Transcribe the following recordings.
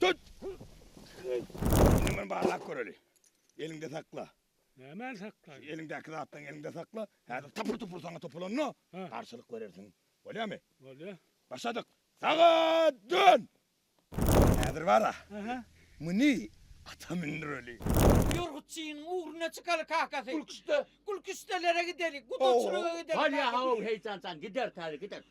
Tut! Indi muny barlap göreli. Eliňde sakla. Nämäni saklaýyn? Eliňdäki zatlaryňy eliňde sakla. Häzir tapyr-tupur saňa topulanda Ha. garşylyk berersiň. Bolýarmy? Bolýar. Başladyk. Sagat dön! Häzir bar-a, Aha. muny ata mündüreli. Ýorgutçynyň ugruna çykaly kakasy. Gülküşde. Gülküşdelere gideli, gudaçylyga gideli. Bolýar, hawa, kakasy. heýjanjan, gideris häzir, gideris.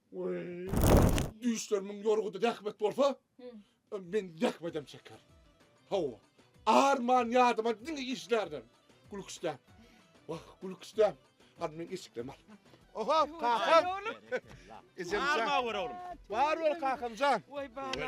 Düýşlerimiň ýorgudy zähmet bolsa, men zähmedem çeker. Hawa, arman ýadyma diňe işlerden. Gülküçdäm. Wah, gülküçdäm. Hany meň eşiklerimi al. Oho, kakam. Ejem jan. Bar bol kakamjan. Oý, bala.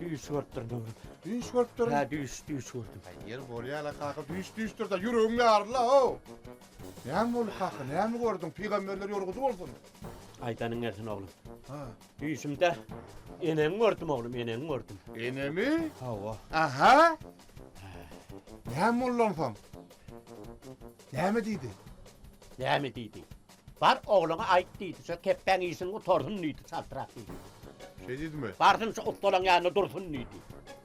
Düýş görüpdir Döwlet. Düýş görüpdir. Hä, düýş, düýş gördüm. Eger bolýar-la kaka, düýş düýşdür-de, ýüregiň ýaryl-la-ow. Näme boldy kaka, näme gördüň? Pygamberler ýolgudy bolsun. Aýdanyň gelsin oglum. Ha. Düýşümde eneňi gördüm oglum, eneňi gördüm. Enemi? Hawa. Aha. Näme boldy onsoň? Näme diýdi? Näme diýdi? Bar, ogluňa aýt, diýdi. Şo kepbäň işini gutarsyn, diýdi. Çaltrak diýdi. Şeý diýdimi? Barsyn, şo ussalaň ýanynda dursun, diýdi.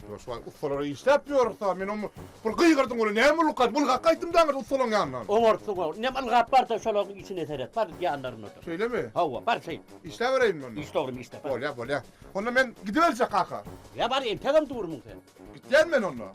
Ýoşbaý, ussalara işläp ýörüs-ä, men oňa bir gygyrdyň welin, näme boldy, gaýt, bul hak aýtdym daňyr ussalaň ýanyndan. Oňarsyň-ow. Indem ylgap bar-da, şolaryň işine seret, bar, ýanlarynda dur. Şeýlemi? Hawa, bar, şeýt. Işläbereýin men onda. Işle, oglum, işle, bar. Bolýar, bolýar. Onda men gidiberjek, kaka. Ýa, bar, entegem durmuň sen. Gitýän men onda.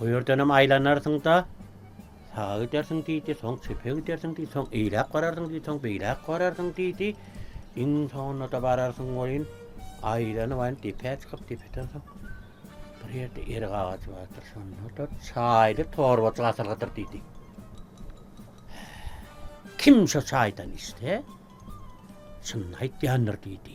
O ýerdenem aýlanarsyň-da, saga gidersiň diýdi, soň çepe gidersiň diýdi, soň eýläk bararsyň diýdi, soň beýläk bararsyň diýdi. Iň soňunda-da bararsyň welin, aýlanyp, aýlanyp depä çykyp, depeden soň bir ýerde erik agajy bardyr, şonda-da çaýly torbajyk asylgydyr diýdi. Kim şo çaýdan içse, çynyny aýtýandyr diýdi.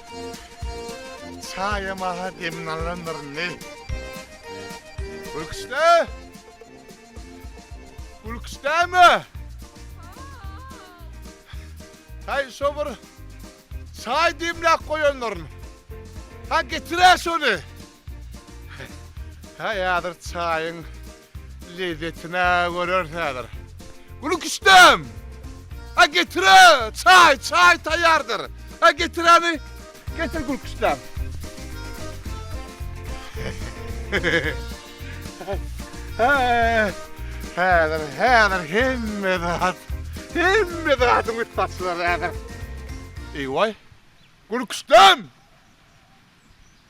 Çaýa maha demini alandyr indi. Gülküçde! Gülküçdämi? Hay şo bir çaý demläp goýanlaryn. Ha getir-ä şony. Häzir çaýyň lezzetine göreris häzir. Gül küştem! A getire! Çaý, çaý taýýardyr. A getiräni getir gül küştem. Häzir, häzir hemme zat, hemme zadyň üsti açylar häzir. Eý waý! Gül küştem!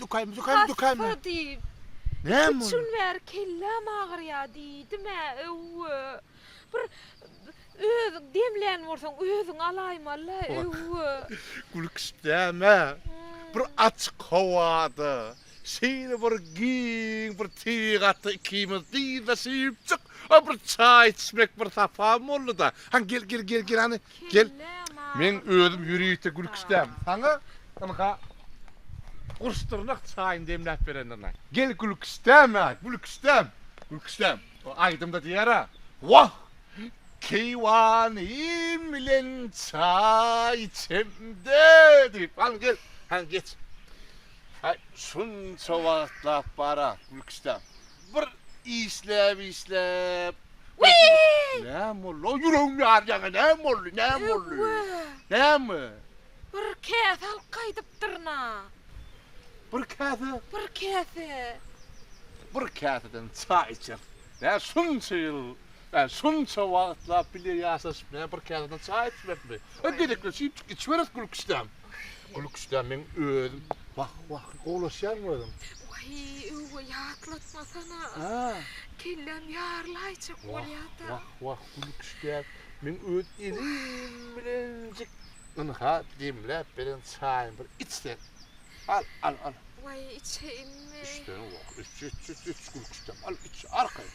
Dükaým, dükaým, dükaým. Hassa diýip. Näme boldy? Üç gün bäri kelläm agyrýar diýdim-ä, öwwü. Bir öz demlän bolsaň, özüň alaýmaly-la, öwwü. Gülküşdäm-ä, bir açyk howada, şeýle bir giň bir tebigata ikimiz dyzlaşypjyk, bir çaý içmek bir sapam boldy-da. Hany, gel, gel, gel, gel, hany. Gel. Men özüm ýörite gülki isläp, saňa ynha gurşdyrnak çaýyny demläp berendirine. Gel gülki isläme, gülki isläp. Gülki isläp. O aýdymda diýer-ä. Wah! Keýwanym bilen çaý içemde diýip. Hany gel, hany geç. Aý, şunça wagtlap bar-a gülki isläp. Bir işläp işläp Näme boldy o ýüregim ýarýaňa näme boldy näme boldy näme. Bir käse alyp gaýdypdyryn-a. Bir käse? Bir käse. Bir käseden çaý içeris. Nä şunça ýyl, nä şunça wagtlap bile ýaşaşyp nä bir käseden çaý içmekmi. Gezekleşip içip içiberis gülküşdäm. Gül küştdä meň özüm. Wah wah gowlaşýarmy özüň. Waý öwgä ýatlatmasana. Kelläm ýarylaýjak bolýada. Wah wah gül küştdä meň öz elim bilenjik ynha demläp beren çaýymy bir iç sen. Al al al. Waý içeýinmi. Içsene wah iç iç iç iç gül küştdäm al iç arkaýyn.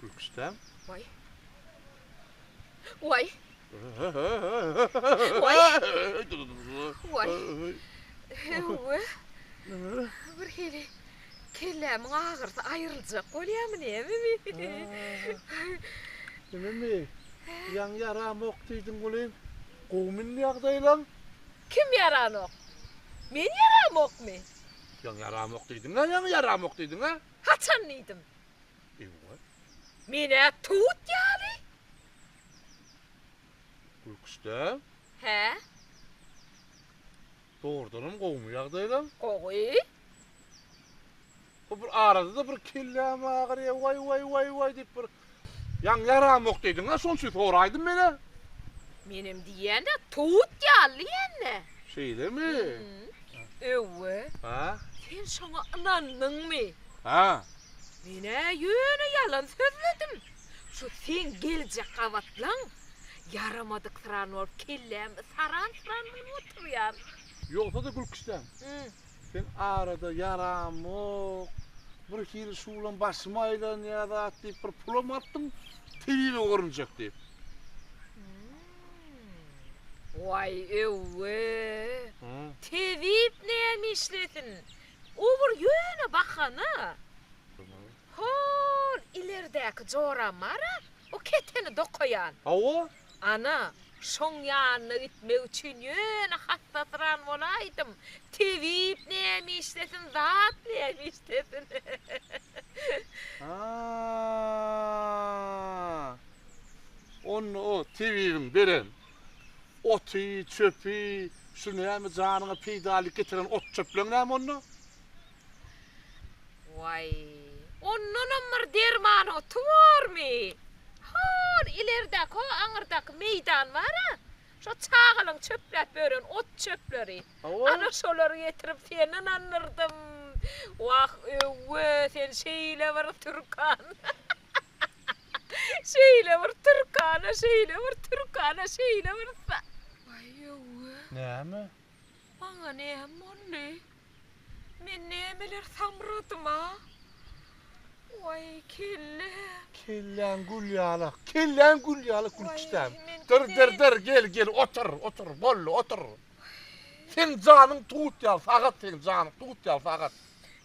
Gülküçdäm. Vay. Vay. Vay. Vay. Ewe. Bir hili kellämiň agyrsy aýryljak bolýamy näme mi? Neme mi? Ýaň ýaramok diýdiň welin, gowumy indi ýagdaýlaň? Kim ýaranok? Men ýaramokmy? Ýaňy ýaramok diýdiň-ä, ýaňy ýaramok diýdiň-ä? Haçan diýdim? Eýwa. Men-ä towut ýaly. Gülküçdäň? Hä. Dogrudanam gowumy ýagdaýlaň? Gowy. Bu bir arada-da bir kelläm agyrýa, waý, waý, waý, waý diýip bir ýaň ýaramok diýdiň-ä, şonuň üçin soraýdym men-ä. Menem diýýän-dä, towut ýaly ýene. Şeýlemi? Öwwe. Hä? Sen şoňa ynandyňmy? Hä. Men-ä ýöne ýalan sözledim. Şu seň geljek gabatlaň ýaramadyk syran bolup kellämi saran-syran bolup oturýar. Ýogsa-da gülküçdäň. Sen arada ýaramok, bir hili şu bilen başym aýlanýar zat diýip bir pulam atdyň, tebibe görünjek diýip. Waý öwwe! Tebip näme işlesin? O bir ýöne bahana. Hol ileridäki joramara o keteni dokaýan. Hawa, Ana, şoň ýanyna gitmek üçin ýöne hassa syran bolaýdym. Tebip näme işlesin, zat näme işlesin. Haa-a-a! Onda o tebibiň beren oty, çöpi, şu näme janyňa peýdaly getiren ot-çöpleň näme onda? Waý, ondanam bir derman oty bormy? Hol ilerdäki, ho aňyrdaky meýdan bar-a, şo çagalaň çöpläp ýören ot-çöpleri. Ana şolary getirip seni ynandyrdym. Wah, öwwe, sen şeýle bir türkan. Şeýle bir türkan-a, şeýle bir türkan-a, şeýle bir sa. Waý, öwwe. Näme? Maňa näme boldy? Men nämeler samradym-a? Waý, kelläm! Kelläň gül ýalak, kelläň gül ýalak Gülkisdäm. Dyr, dyr, dyr, gel, gel, otur, otur, boldy, otur. Seň janyň tut ýaly sagat, seň janyň tut ýaly sagat.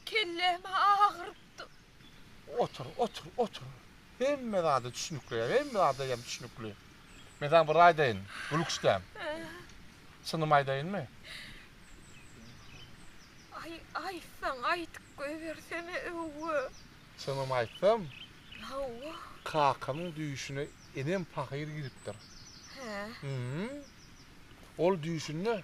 Kellämi agyrypdym. Otur, otur, otur. Hemme zada düşnükli ýa hemme zada ýa düşnükli. Men saňa bir aýdaýyn, gül küşdäm. Çynymy aýdaýynmy? Aý, aýtsaň, aýdyp goýbersene, öwwa. Çynymy aýtsam? Hawa. Kakamyň düýşüne enem pahyr giripdir. Hä? Hä. Ol düýşünde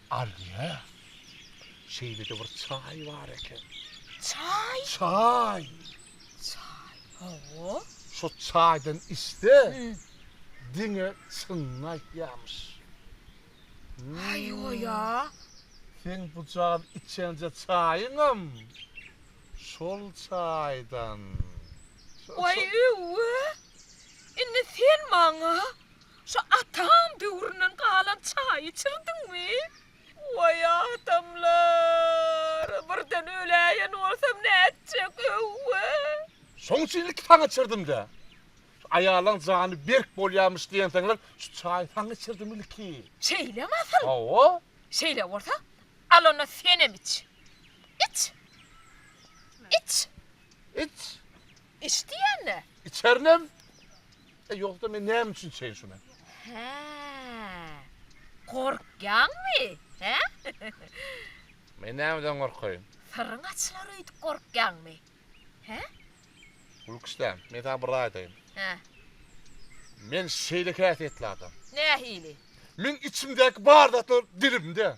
Alýa, şeýle-de bir çaý bar eken. Çaý? Çaý. Çaý, hawa. Şo çaýdan içse, diňe çynyny aýtýarmyş. Aýoý-a! Seň bu jan içenje çaýyňam şol çaýdan. Waý, öww-ä! Indi sen maňa Şu atam döwründen galan çaý içirdiňmi? Waý adamlar! Birden öläýen bolsam nätjek, öwwee! Şoň üçin ilki saňa içirdim-dä. Şu aýallaň jany berk bolýarmyş diýensoňlar, şu çaýy saňa içirdim ilki. Şeýlemi asyl? Hawa. Şeýle bolsa, al onda senem iç. Iç! Iç! Iç! Iç diýende? Içerinem. E, ýogsa men näme üçin içeýin şuny? Hä. Gorkýaňmy, hä? Men nämeden gorkaýyn? Syryň açylar öýdüp gorkýaňmy, hä? Gülküşjan, men saňa bir zat aýdaýyn. Hä. Men şeýle häsiýetli adam. Nähili? Meň içimdäki bar zatlar dilimde.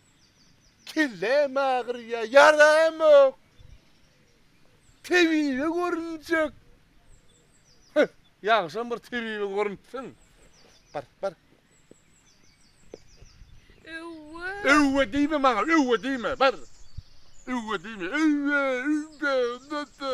Kelläm agyrýar, ýaramok. Tebibe görünjek. Heh, ýagşam bir tebibe görünsin. Bar, bar. Öwwe. Öwwe diýme maňa, öwwe diýme, bar. Öwwe diýme, öwwe, öwwe, dada.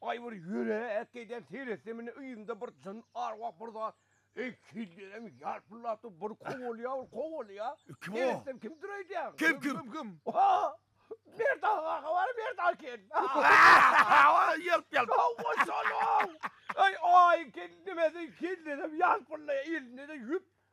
Aý bir ýöne ätgeýden seýretsem indi yzymda bir jyn ar wah bir zat eý kellerem ýalpyldapdyr bir kowalýa bir kowalýa Kim o? seýretsem kimdir öýdýän. Kim kim? Kim kim? Mert aga kaka bar Mert aga eken. Ýalp ýalp. Hawa şol o. Eý aý ken nimesi kellerem ýalpyldaýa elinde-de ýüp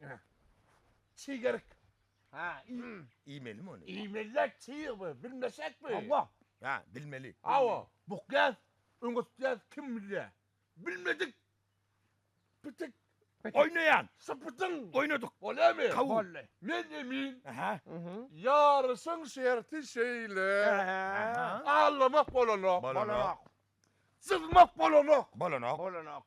Ene. Çig erik. Ha, iý. Iýmelimi ony? Iýmeli-dä çig bu, bilmesek mi? Hawa. Ha, bilmeli. Hawa, bukýas, öňürtýäs, kim bilýä. Bilmedik. Pitik. Oýnaýan. Sypytyň. Oýnadyk. Bolýamy? Kabul. Boldy. Men emin. Aha. Ýaryşyň şerti şeýle. Allamak bolanok. Bolanok. Syzmak bolanok. Bolanok. Bolanok.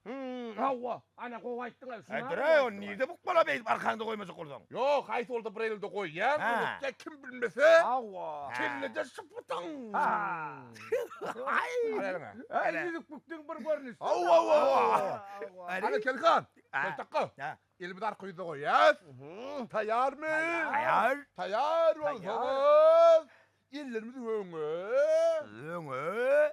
Hümm, hawa, ana gowy aýtdyň, a, şuny-a gowy aýtdyň. Dur-aý, ony nirde bukmalap eýdip arkaňda goýmajak bolsaň? Ýok, haýsy bolsa bir elde goýýaň, öwretýäň, kim bilmese, Hawa. kellede şypbytyň! Haý! Al eliňe. Äý, ýüzük-püktüň bir görnüşi. Hawa-wa-wa! Hany, Kelik han, Keltakga, elimizi arka ýüze goýýas. Taýýarmy? Taýýar. Taýýar bolsaňyz, ellerimizi öňe. Öňe.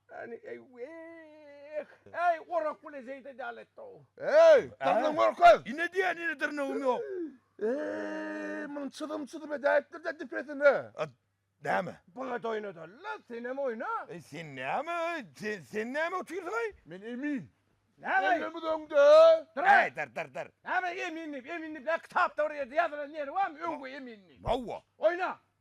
Äni eýweh! Äý, orak bile zeýde däl etdi-ow! Äý, dyrnyňy görkez! Ine diýýän, ine dyrnygym ýok! Äý, muny çyzym-çyzym edäýipdir-dä dipesine! A, näme? Bagt oýnadal-la, senem oýna! Äý, sen näme, sen, sen näme otyrsyň-aý? Men emin. Näme? Ellerimiz öňde! Dyr-a! Äý, dyr, dyr, dyr! Näme emin diýip, emin diýip, nä kitapda bir ýerde ýazylan ýeri barmy, öňki emin diýip? Hawa! Oýna!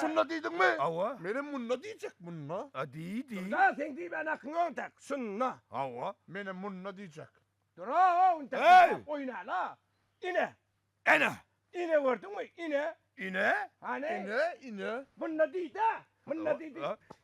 Şunda diýdiňmi? Hawa. Menem munda diýjek, munda. A diý, diý. Durda, seň diýmän hakyň ýok entek. Şunda. Hawa. Menem munda diýjek. Dura-ow, indi kyssak oýna-la. Ine. Ene. Ine gördüňmi? Ine. Ine? Hany? Ine, ine. Munda diý-dä. Munda diý, diý.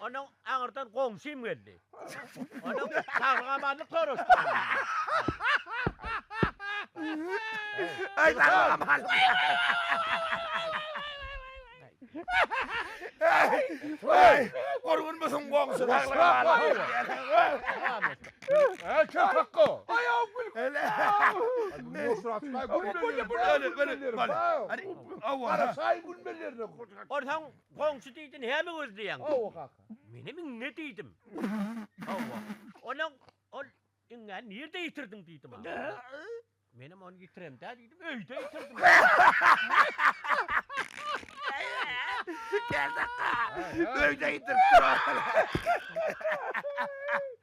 Onuň aňyrdan goňşym geldi. Onuň saglygamazlyk soraşdygyny bildi. Onsoň Goňşy diýdi, näme gözleýäň? Hawa, kaka. Menem iňňe diýdim. Hawa. Onuň ol iňňäni nirde ýitirdiň diýdi maňa. Menem ony ýitiremdä diýdim, öýde ýitirdim. Kerdakga, öýde ýitiripdir ony.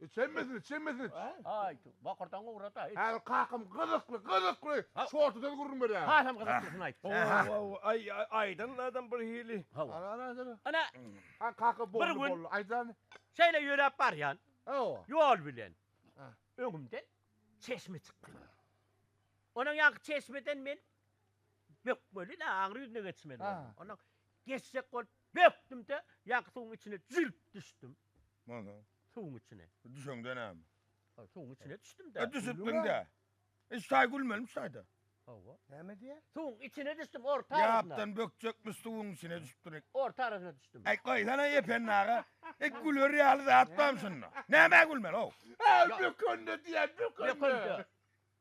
Içemmesin, içemmesin. Aýtu, bokurdagyňy ugrada. Häzir kakam gyzykly, gyzykly şortudan gürrüň berýär. Hasam gyzyklysyny aýt. Haw-haw, aý, aýdan adam bir hili. Haw. Ana, Haý, kaka boldy, boldy, aýdan. Şeýle ýöräp barýan. Hawa. Ýol bilen. Öňümden çeşme çykdy. Onuň ýaňky çeşmeden men bökmeli-le, aňry ýüzüne geçmeli boldum. Ondan geçjek bolup. Bökdüm-de, ýaňky suwuň içine jülp düşdüm. Mana. Suwuň içine. Düşeňde näme? Hä, suwuň içine düşdüm-dä. Hä, düşüpmiň-dä. Iş taý gülmelimiş taýda. Hawa. Näme diýýär? Suwuň içine düşdüm, orta arasyna. Ýapdan bökjekmiş suwuň içine düşüpdirik. Orta arasyna düşdüm. Äý, goýsana-aý Ependi aga. Ek güler ýaly zat barmy şunda? Nämä gülmeli-ow? Hä, bökende diýýär, bökende. Bökende.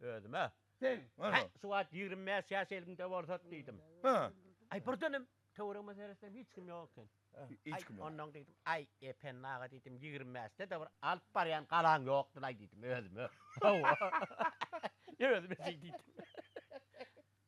Özüm-ä, Hä, şu wagt ýigrimi bäş ýaş elimde bolsat diýdim. Aý, birdenem töweregime seretsem, hiç kim ýok eken. Aý, onnoň diýdim, aý, Ependi aga diýdim, ýigrimi bäşde-de bir alyp barýan galaň ýokdur-aý diýdim özüme. Hawa. Özüme şeý diýdim.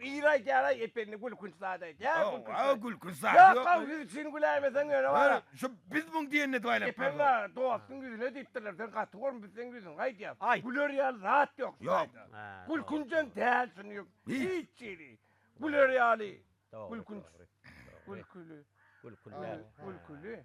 Ir aýt ýaraý Ependi gülkünç zat aýt. Ýa gülkünç zat. Gülkünç zat ýok. Ýok haw siz üçin güläýmeseň ýöne wara. Şu biz muň diýenine duaýlap. Ependi aga dostuň ýüzüne diýipdirler sen gaty gormy biz seň ýüzüňi aýdýas. Aýt. Güler ýaly zat ýok şu taýda. Gülkünjem däl şuny ýok hiç hili. Güler ýaly. Gülkünç. Gülküli. Gülküli.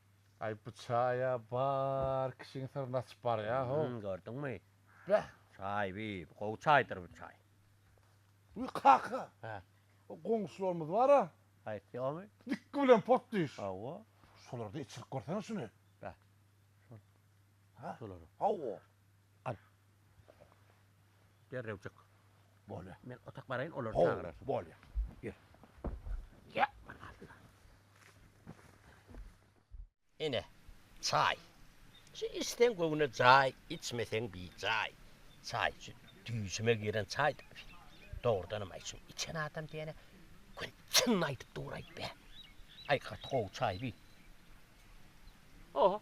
Aý bu çaýa bar kişiň syryny açyp barýa ho. Hum gördüňmi? Beh. Çaý bi gowy çaýdyr bu çaý. Wi kaka. Hä. O goňşularymyz bara. Haýsy ýomy? Dikgi bilen pot diş. Hawa. Şolarda içirip görsene şuny. Beh. Şol. Hä. Şolara. Hawa. Al. Derrew çyk. Bolýar. Men otak baraýyn, olary çagyrarsyň. Ho, bolýar. Gir. Gel. Alla. Ine, çaý. Şu içseň göwne jaý, içmeseň bijaý. Çaý, şu düýşüme giren çaý daşy. Dogrudanam, aý, şuny içen adam diýene göni çynyny aýdyp duraýyp be. Aý, gaty gowy çaý bi. Oho.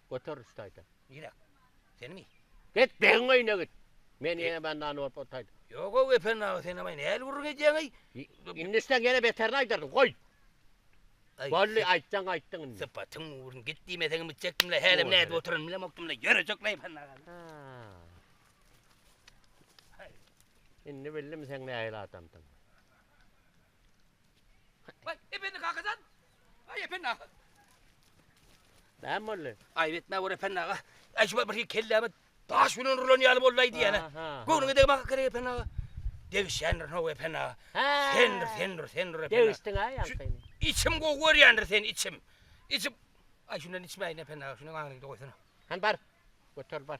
Göter rüştaýda. Nirä? Seniňi? Get begiň öýüne git. Men ýene bendany bolup otaýdym. Ýog-ow Gepen aga sen amaý näl gürrüň edýäňeý? Indi sen ýene beterini aýdardyň. Goý. Boldy aýtsaň aýtdyň indi. Sypatyň ugrun git diýmeseňem gitjekdim-le hälem nädip oturanymy bilemokdym-le ýörejek Gepen aga. Indi bildim seň nähili adamdygyňy. Waý, Ependi kaka jan! Aý, Ependi aga! Näme boldy? Aýyp etme, bir Ependi aga. Aý, şu bir kelläme daş bilen urlan ýaly boldy-aý diýýän-ä. Göwnüňe degmäk gerek, Ependi aga. Degişýändirin-ow, Ependi aga. Sendir, sendir, sendir, Ependi aga. Degişdiň-ä ýaňsyny. Içim gowy görýändir seni, içim. Içim. Aý, şundan içmäýin, Ependi aga, şuny aňryňda goýsana. Hany bar, göter bar.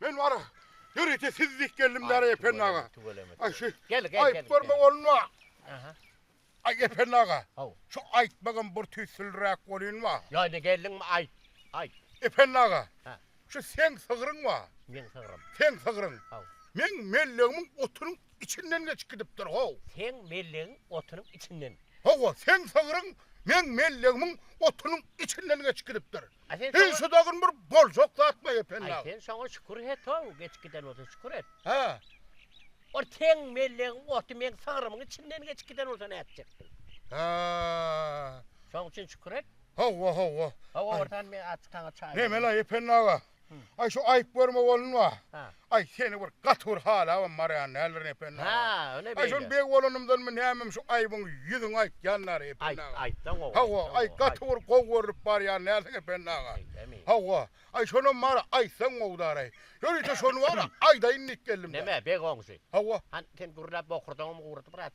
Men bara ýörite siz diýip geldim Dara Ependi aga. Aý şu aýyp görme bolma. Aha. Aý Ependi aga. Haw. Şu aýtmagam bir tüýsülräk bolýan ba. Ýa geldiň mi aýt. Aýt. Ependi aga. Ha. Şu sen sygryň ba. Men sygrym. Sen sygryň. Haw. Men mellegimiň otunyň içinden geçip gidipdir haw. Sen mellegiň otunyň içinden. Hawa, sen sygryň men mellegimiň otunyň içinden geçip gidipdir. Heý, şu dagyn bir boljak zatmy, Ependi aga? Aý, sen şoňa şükür et-ow, geçip giden bolsa şükür et. Hä? Ol seň mellegiň oty meň sygrymyň içinden geçip giden bolsa nätjekdiň? Hä. Şoň üçin şükür et. Hawa, hawa. Hawa, ortan men aç saňa çaý. Näme-le, Ependi aga? Aý, şu aýyp görme bolunma. Hä. Aý, seni bir gaty bir halabam barýan däldirin, Ependi aga. Hä, ine beýle. Aý, şol beg bolanymdanmy, nämemi şu aýbyň ýüzüňi aýtýan däl, Ependi aga. Aýt, aýtsaň gowy. Hawa, aý, gaty bir gowy görlüp barýan dälsiň, Ependi aga. Hawa, aý, şonam bar-a, aýtsaň gowy däl-aý. Ýörite şony bar-a, aýdaýyn diýip geldim-de. Näme, beg oňşy? Hawa. Hany, sen gürläp bokurdagyňmy guradyp, brat?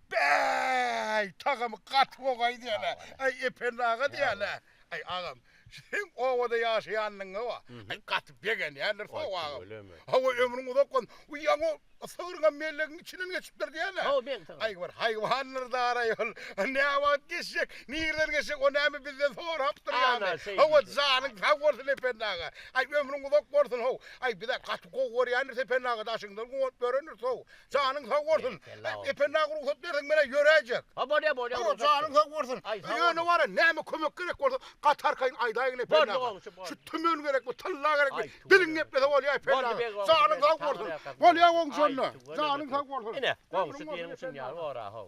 Bäý, tagamy gaty gowy aýdýan-a. Aý, Ependi aga diýýän-a. Aý, agam, seň obada ýaşaýanyňa-a, aý, gaty begenýändir soň, agam. Hawa, ömrüň uzak bolsun. Bu ýaňy sygryňam mellegiň içinden geçipdir diýýän-a. Hawa, beýik sygry. Aý, bir haýwandyr daraý ol. Näwagt geçjek, nireden geçjek, o näme bizden sorapdyr ýaly. Hawa, janyň sag bolsun, Ependi aga. Aý, ömrüň uzak bolsun, how. Aý, biz-ä gaty gowy görýändiris, Ependi aga, daşyňdan guwanyp ýörendiris, how. Janyň sag bolsun. Ependi aga rugsat berseň men-ä ýöräýjek. Ha bolýa bolýa. Ýok janyň sag bolsun. Ýöne wara näme kömek gerek bolsa gaty arkaýyn aýdaýgyn Ependi aga. Şu tümen gerekmi, tylla gerekmi diliň geplese bolýa Ependi aga. Janyň sag bolsun. Bolýa goňşy onda. Janyň sag bolsun. Ine goňşy diýeniň üçin ýa ora how.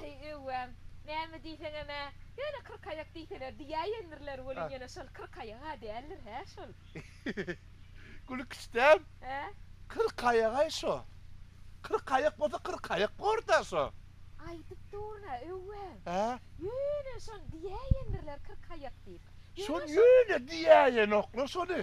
Aý, öwgäm, näme diýseňem-ä, ýöne kyrkaýak diýseler diýäýendirler welin ýene şol kyrkaýag-a däldir, hä, şol? Gülkiçdem, Hä? Kyrkaýag-aý şo. Kyrkaýak bolsa kyrkaýak bor-da şo. Aýdyp durun-a, öwgäm. Hä? Ýöne şony diýäýendirler kyrkaýak diýip. Ýöne şony ýöne diýäýenoklar şony.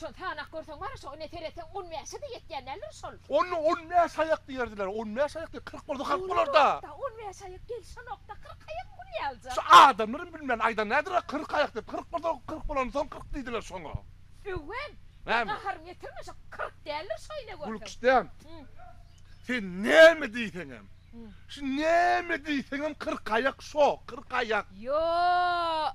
Şol sanap görseň bar şo ine seretseň on bäşede ýetýän däldir şol. On on bäş aýak diýerdiler on bäş aýak diýip kyrk bolsa halk bolar da. Ýonokda on bäş aýak gelşenokda kyrk aýak bu näme aljak. Şu adamlaram bilmän aýdan nädira kyrk aýak diýip kyrk bolsa kyrk bolan soň kyrk diýdiler şoňa. Öwen men gaharymy ýetirme şo kyrk däldir şo ine görseň. Gülküçdem sen näme diýseňem şu näme diýseňem kyrk aýak şo kyrk aýak. Ýo.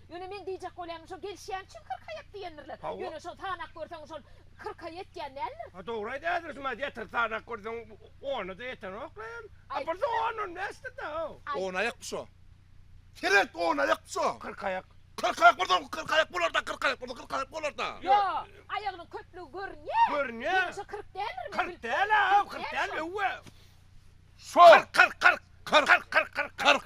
Ýöne meň diýjek bolýanym şo gelişýän üçin kyrk aýat diýendirler. Hawa. Ýöne şol sanap görseň şol kyrk aý ýetýän däldir. Ha dogry aýdýarsyň şumat ýeter sanap görseň onada ýetenok la ýöne. A bir de on on bäşdir da haw. On aýakmy şo? Seret on aýakmy şo? Kyrk aýak. Kyrk aýak bolsa kyrk aýak bolarda kyrk aýak bolsa kyrk aýak bolarda. Ýo aýagynyň köplügi görünýä. Görünýä. Ýöne şo kyrk däldir. Kyrk däl haw kyrk däl öwwe. Şo. Kyrk kyrk kyrk. Kyrk kyrk kyrk kyrk. Kyrk.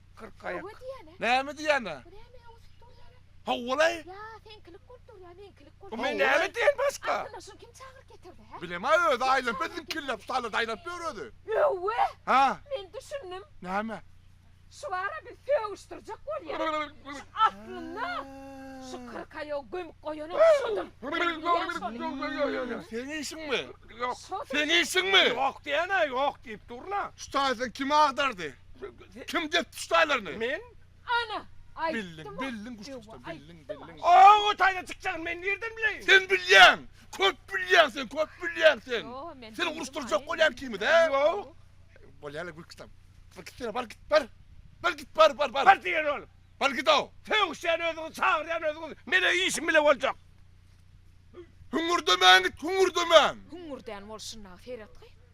Kyrkaýak. Näme diýýän-ä? Bu näme öwsüp dur ýaly? Hawa-laý. Ýa, seňkilik bolup durýa, meňkilik bolup. Bu men näme diýen başga? Aslynda şuny kim çagyryp getirdi, hä? Bilem-ä, özi aýlanyp we ziňkillap, salada aýlanyp ýör özi. Öwwä! Hä? Men düşündim. Näme? Şu bar-a bir sögüşdirjek bolýan. Şu aslynda şu kyrkaýagy gömüp goýanam şudur. Men diýýän şony. Seň işiňmi? Ýok. Seň işiňmi? Ýok diýen-ä, ýok diýip dur-la. Şu taýsa kim agdardy? Kim dek tüs taýlaryny? Men. Ana, aýtdym-a. Bildiň, bildiň Ewa, aýtdym-a. Oňa taýdan çykjagyny men nirden bileýin? Sen bilýäň. Köp bilýäň sen, köp bilýäň sen. Ýo-o, men. Seni uruşdyrjak bolýan ikimiz-ä. Ýok. Bolýar-la gülküsem. Bir gitseň, bar git, bar. Bir git, bar, bar, bar. Bar diýen ol. Bar git-ow. Sögüşýän özüňiz, çagyrýan özüňiz. Meniň işim bile boljak. Hüňňürdemäň git, hüňňürdemäň. Hüňňürdän bol şunda, seretgi.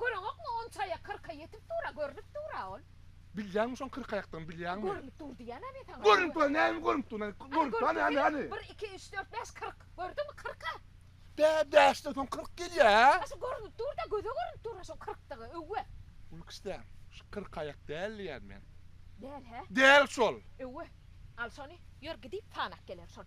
Göreňokmy, on çaýa, kyrka ýetip dur-a, görnüp dur-a ol. Bilýäňmi şoň kyrkaýakdygyny, bilýäňmi? Görnüp dur diýýän-ä men saňa. Görnüp dur, näme görnüp dur, näme görnüp dur, hany, hany, hany. Bir, iki, üç, dört, bäş, kyrk. Gördüňmi, kyrk-a. Bä, bäşden soň kyrk gelýä-hä? A şo görnüp dur-da, göze görnüp dur-a şoň kyrkdygy, öwwe. Uly kişdäm, şu kyrkaýak däl diýýän men. Däl-hä? Däl şol. Öwwe. Al şony, ýör gidip sanap geler şony.